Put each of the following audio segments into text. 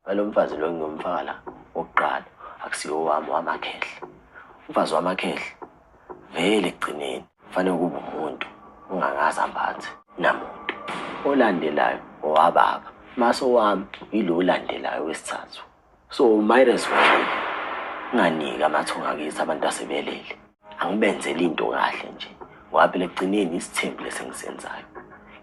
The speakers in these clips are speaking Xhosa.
alo mfazi lo ngingumfakala wokuqala akusiwo wami wamakhehle umfazi wamakhehle vele ekugcineni kufanele ukuba umuntu ungakaze ambathe namuntu olandelayo owababa mase owami yilo olandelayo wesithathu so might as well unganiki amathunga kithi abantu asebelele angibenzeli into kahle nje ngoba phela ekugcineni isithembu lesengisenzayo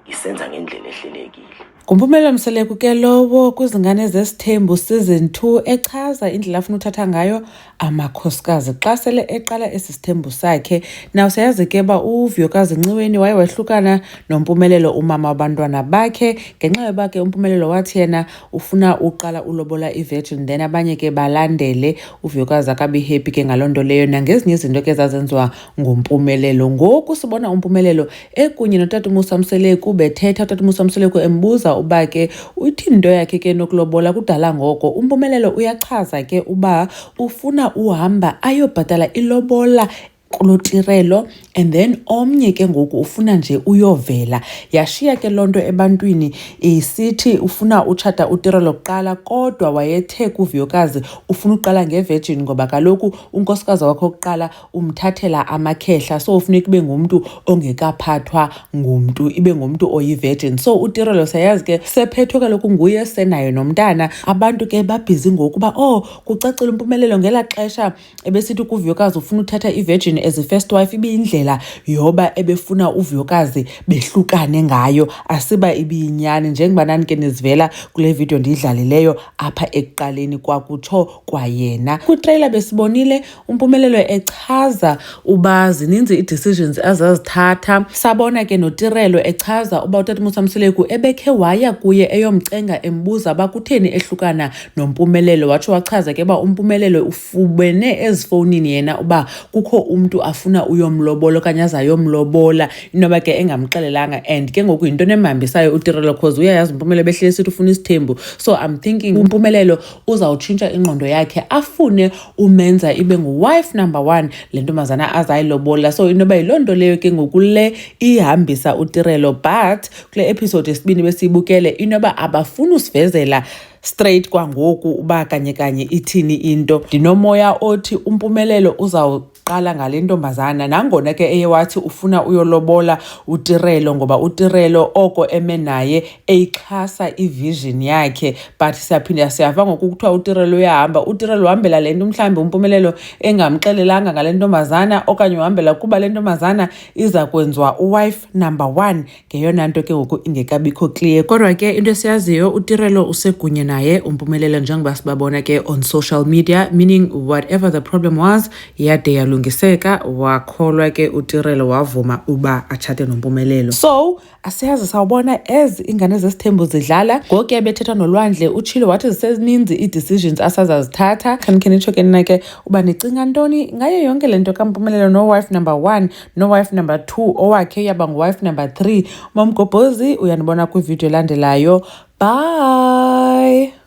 ngisenza ngendlela ehlelekile Ngumpumela Mseleku ke lowo kwizingane zesithembu season 2 echaza indlela afuna uthatha ngayo amakhosikazi xa sele eqala esi sithembu sakhe naw siyazi ke uba uvuyokazi nciweni waye wahlukana nompumelelo umama wabantwana bakhe ngenxa yoba ke umpumelelo wathi yena ufuna uqala ulobola ivirgin then abanye ke balandele uvuyekazi akabi happy ke ngaloo nto leyo nangezinye izinto ke zazenziwa ngumpumelelo ngoku sibona umpumelelo ekunye notata umusa mseleku bethetha utata umusa mseleku embuza uba ke uthini into yakhe ke nokulobola kudala ngoko umpumelelo uyachaza ke uba ufuna uhamba ayobhatala ilobola kuloo tirelo and then omnye ke ngoku ufuna nje uyovela yashiya ke loo nto ebantwini isithi ufuna utshata utirelo kuqala kodwa wayethe kuviyokazi ufuna uqala ngevirgin ngoba kaloku unkosikazi wakho kuqala umthathela amakhehla so ufuneka ibe ngumntu ongekaphathwa ngumntu ibe ngumntu oyivirgin so utirelo sayazi ke sephethwe kaloku nguye senayo nomntana abantu ke babhizi ngokuba oh kucacile umpumelelo ngela xesha ebesithi kuvuyokazi ufuna uthatha ivirgin as first wife ibiyindlela yoba ebefuna uvuyokazi behlukane ngayo asiba ibiyinyani njengoba nanike nizivela kule vidiyo ndiyidlalileyo apha ekuqaleni kwakutsho kwayena kwitreyila besibonile umpumelelo echaza uba zininzi ii-decisions azazithatha sabona ke notirelo echaza uba utata musamseleku ebekhe waya kuye eyomcenga embuza uba kutheni ehlukana noMpumelelo watsho wachaza ke uba uMpumelelo ufubene ezifowunini yena uba kukho umntu afuna uyomlobola okanye azayomlobola inoba ke engamxelelanga and ke ngoku yinto nemhambisayo utirelo cause uyayazi uMpumelelo behlele sithi ufuna isithembu so i'm thinking uMpumelelo uzawutshintsha ingqondo yakhe afune umenza ibe nguwife number one le ntombazana azayilobola so inoba yiloo nto leyo ke ngoku le ihambisa utirelo but kule episode yesibini besiyibukele inoba abafuni usivezela straight kwangoku uba kanye kanye ithini into ndinomoya othi umpumelelo uzawuqala ngale ntombazana nangona ke eye wathi ufuna uyolobola utirelo ngoba utirelo oko eme naye eyixhasa ivision yakhe but siyaphinda siyava ngoku kuthiwa utirelo uyahamba utirelo uhambela le nto mhlawumbi umpumelelo engamxelelanga ngale ntombazana okanye uhambela kuba le ntombazana iza kwenziwa uwife number one ngeyona nto ke ngoku ingekabikho clear kodwa ke into esiyaziyo utirelo usekunye naye umpumelelo njengoba sibabona ke on social media meaning whatever the problem was yade yalungiseka wakholwa ke utirelo wavuma uba atshate nompumelelo so asiyazi sawubona as ingane zesithembu zidlala ngokuya bethetha nolwandle utshilo wathi zisezininzi ii-decisions asazazithatha khanikhenitsho ke nina ke uba nicinga ntoni ngayo yonke le nto kampumelelo nowife number one nowife number two owakhe uyaba nguwife number three umamgobhozi uyanibona kwividiyo elandelayo bye